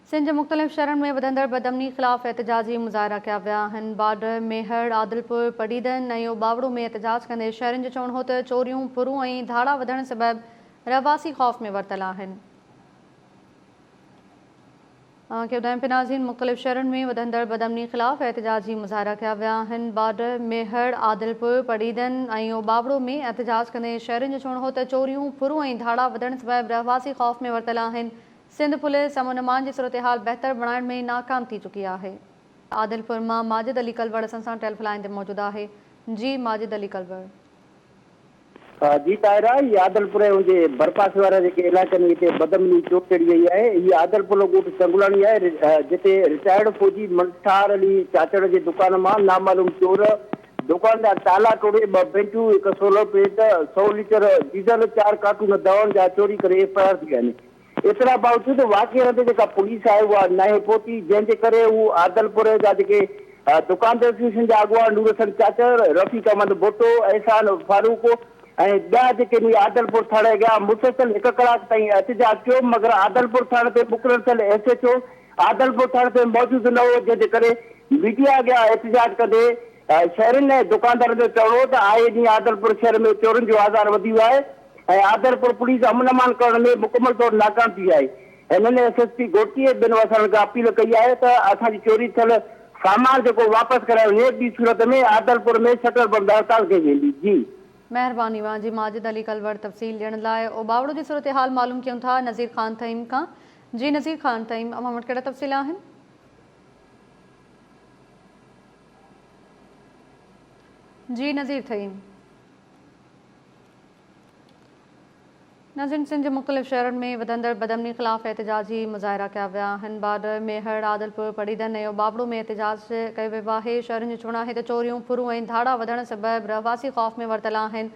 سنڌ جي مختلف شھرن ۾ وڌندڙ بدامني خلاف احتجاجي مظاھرا ڪيا ويا آھن، باڊر، ميھڙ، عادلپور، پڊعيدن ۽ اوٻاوڙو ۾ احتجاج ڪندي شھرين جو چوڻ ھو ته چوريون، ڦرون ۽ ڌاڙا وڌڻ سبب رھواسي خوف ۾ ورتل آھن. اوھان کي ٻڌايون پھه ناظرين مختلف شھرن ۾ وڌندڙ بدامني خلاف احتجاجي مظاھرا ڪيا ويا آھن، باڊر، ميھڙ، عادلپور، پڊعيدن ۽ اوٻاوڙو ۾ احتجاج ڪندي شھرين جو چوڻ ھو ته چوريون، ڦرون ۽ ڌاڙا وڌڻ سبب رھواسي خوف ۾ ورتل آھن، سنڌ پوليس امن امان جي صورتحال بهتر بڻائڻ ۾ ناڪام ٿي چڪي آهي. عادلپور مان ماجد علي ڪلوڙ اسان سان ٽيلف لائين تي موجود آهي جي ماجد علي ڪلوڙ. جي طاهرا هي عادلپور ۽ ان جي ڀرپاسي وارا جيڪي علائقا آهن اتي بدامني چوٽ چڙهي وئي آهي هي عادلپور جو ڳوٺ چنگلاڻي آهي جتي رٽائرڊ فوجي منٺار علي چاچڙ جي دڪان مان نامعلوم چور دڪاندار تالا ٽوڙي ٻه بينچون هڪ سولر پليٽ سؤ ليٽر ڊيزل چار ڪارٽون دوائن جا چوري ڪري فرار ٿي ويا آهن ايترا باوجود واقعي هنڌ جيڪا پوليس آهي اها ناهي پهتي جنهن جي ڪري هو عادلپور جا جيڪي دڪاندر ايسوسيئيشن جا اڳواڻ نورحسن چاچڙ، رفيق احمد ڀٽو، احسان فاروق ۽ ٻيا جيڪي به عادلپور ٿاڻي اڳيان مسلسل هڪ ڪلاڪ تائين احتجاج ڪيو مگر عادلپور ٿاڻي تي مقرر ٿيل ايس ايڇ او عادلپور ٿاڻي تي موجود نه هو جنهن جي ڪري ميڊيا اڳيان احتجاج ڪندي شهرين ۽ دڪاندارن جو چوڻ هو ته آئي ڏينهن عادلپور شهر ۾ چورين جو آزار وڌي ويو آهي. ۽ آدرپور پوليس امن امان ڪرڻ ۾ مڪمل طور ناڪام ٿي آهي، هنن ايس ايس پي گهوٽي ۽ ٻين وسارن کان اپيل ڪئي آهي ته اسان جي چوري ٿيل سامان جيڪو واپس ڪرايو وڃي، ٻي صورت ۾ آدرپور ۾ شٽر بند هڙتال ڪئي ويندي. جي. مهرباني وان جي ماجد علي ڪلوڙ تفصيل ڏيڻ لاء او ٻاوڙو جي صورتحال معلوم ڪيون ٿا نذير خان ٿهيم کان جي نذير خان ٿهيم اوهان وٽ ڪهڙا تفصيل آهن. جي نذير ٿهيم. ناظرين سنڌ جي مختلف شهرن ۾ وڌندڙ بدامني خلاف احتجاجي مظاهرا ڪيا ويا آهن باڊر، ميهڙ، عادلپور، پڙيدن ۽ ٻاٻڙو ۾ احتجاج ڪيو ويو آهي شهرين جو چوڻ آهي ته چوريون، ڦرون ۽ ڌاڙا وڌڻ سبب رهواسي خوف ۾ ورتل آهن